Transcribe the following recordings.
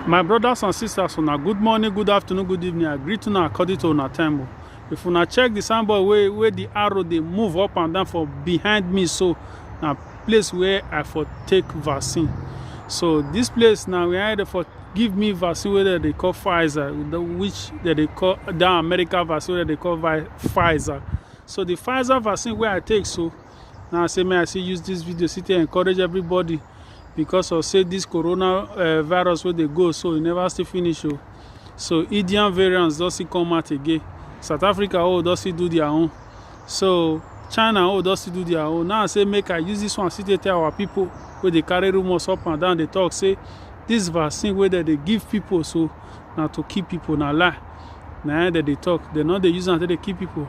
My brothers and sisters, una good morning, good afternoon, good evening. I greet una according to una time. o. If una check the signboard wey wey the arrow dey move up and down for behind me so na place where I for take vaccine. So this place na where they for give me vaccine wey dem dey call Pfizer, the- which dem dey call that American vaccine wey dem dey call Vi- Pfizer. So the Pfizer vaccine wey I take so now say may i still use this video still to encourage everybody because of say this corona uh, virus wey dey go so e never still finish o oh. so indian variants don still come out again south africa oh don still do their own so china oh don still do their own now i say make i use this one still to tell our people wey dey carry rumours up and down dey talk say this vaccine wey dem dey give people so na to keep people na lie na dem dey talk dem no dey use am take dey keep people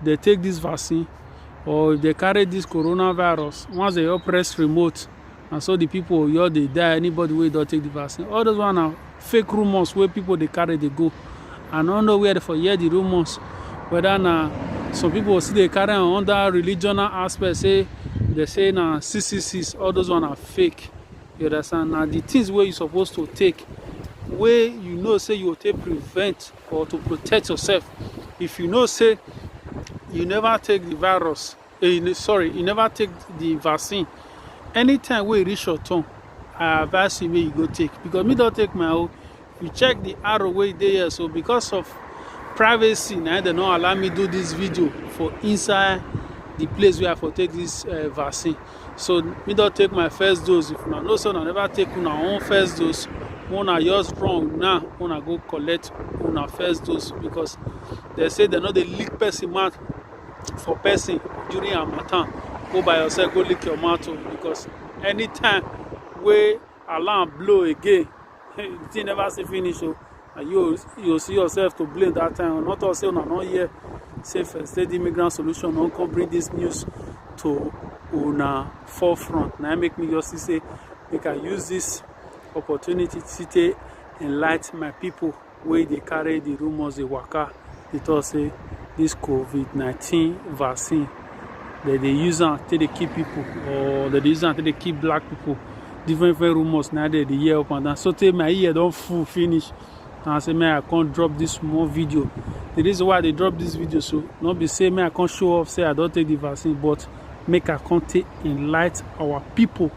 if dem take this vaccine or if dem carry this corona virus once dem just press remote na so the people just dey die anybody wey don take the vaccine all those one na fake rumours wey people dey carry dey go i no know where they for hear the rumours whether na some people still dey carry am under religional aspect say they say na six six six all those one na fake you understand na the things wey you suppose to take wey you know say you go take prevent or to protect yourself if you know say you never take the virus uh, sorry you never take the vaccine anytime we reach your turn i advise you make you go take because me don't take my own you check the arrow way there. so because of privacy now they don't allow me do this video for inside the place where i for take this uh, vaccine so me don take my first dose if una know say una never take una own first dose make una just run now make una go collect una first dose because dem say dem no dey lick person mouth for person during harmattan go by yourself go lick your mouth o because anytime wey alarm blow again the thing never see finish o and you you see yourself to blame that time not all say una no hear say first aid immigrant solution don come bring this news to una forefront na make me just see say make i use this opportunity to take enlighten my people wey dey carry the rumours dey waka dey talk say this COVID-19 vaccine, they dey use am take dey kill people or they dey use am take dey kill black people. Different different rumors now they dey hear up and down. So tey my ear don full finish. And I say may I come drop this small video. The reason why I dey drop this video so not be say may I come show off say I don take the vaccine, but make I come take enlighten our people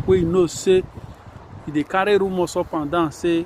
wey you know say e dey carry rumors up and down say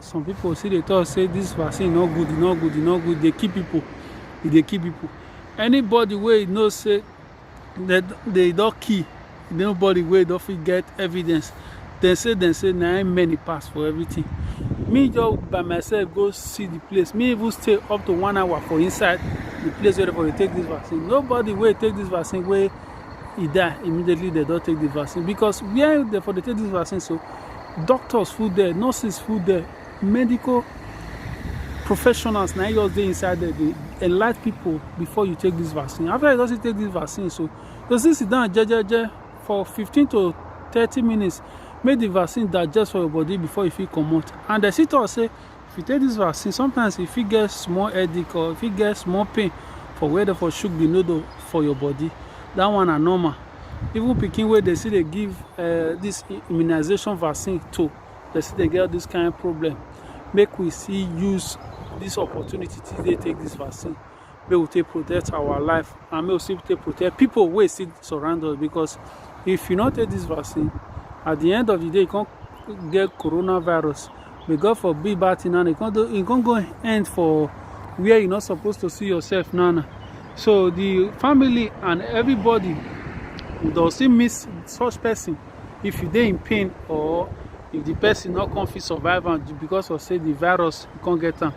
some people still dey talk say this vaccine no good e no good e no good e dey kill people e dey kill people anybody wey you know say they they don kill nobody wey don fit get evidence dem say dem say na im many pass for everything me just by myself go see the place me even stay up to one hour for inside the place where everybody take this vaccine nobody wey take this vaccine wey e die immediately dem don take the vaccine because where dem for dey take this vaccine so doctors full there nurses full there medical professionals na just dey inside there dey enlight people before you take this vaccine after you don still take this vaccine so you still sit down jejeje for fifteen to thirty minutes make the vaccine digest for your body before you fit comot and dem still talk say if you take this vaccine sometimes you fit get small headache or you fit get small pain for where dem for shook the noodle for your body that one na normal even pikin wey dey still dey give uh, this immunization vaccine to dey still dey get all this kind of problem make we still use this opportunity to dey take this vaccine make we take protect our life and make we still take protect people wey still surround us because if you no take this vaccine at the end of the day you come get coronavirus may god forbid bad thing now you come do you come go end for where you no suppose to see yourself now now so the family and everybody you don still miss such person if you dey in pain or if the person no come fit survive am because of say the virus you come get am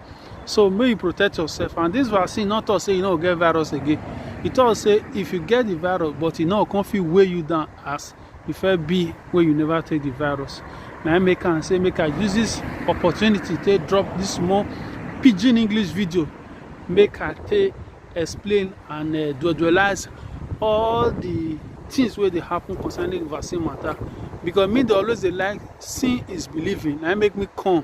so make you protect yourself and this vaccine not talk say you no get virus again e talk say if you get the virus but e no come fit weigh you down as e fair be when you never take the virus Now I make and say make i use this opportunity to drop this small pidgin english video make i take explain and uh, dualize all the things where they happen concerning vaccine matter because me they always they like seeing is believing I make me come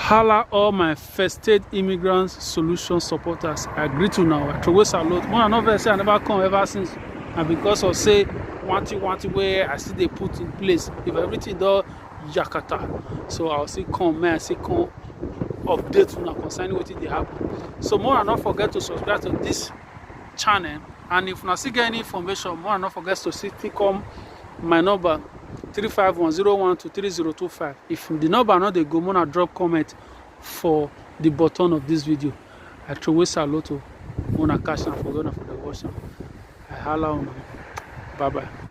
Hala all my first state immigrant solution supporters. I greet you now. I throw away salute. When I no vex say I never come ever since. And because of say one thing, one thing where I see they put in place. If everything do yakata. So I'll see come, man, I see come update una concerning wetin dey happen. So more and not forget to subscribe to this channel. And if una still get any information, more and not forget to still come my number three five one zero one two three zero two five if the number no dey go make una drop comment for the button of this video i throway salute o make una catch am for where una for dey watch am i hala una bye bye.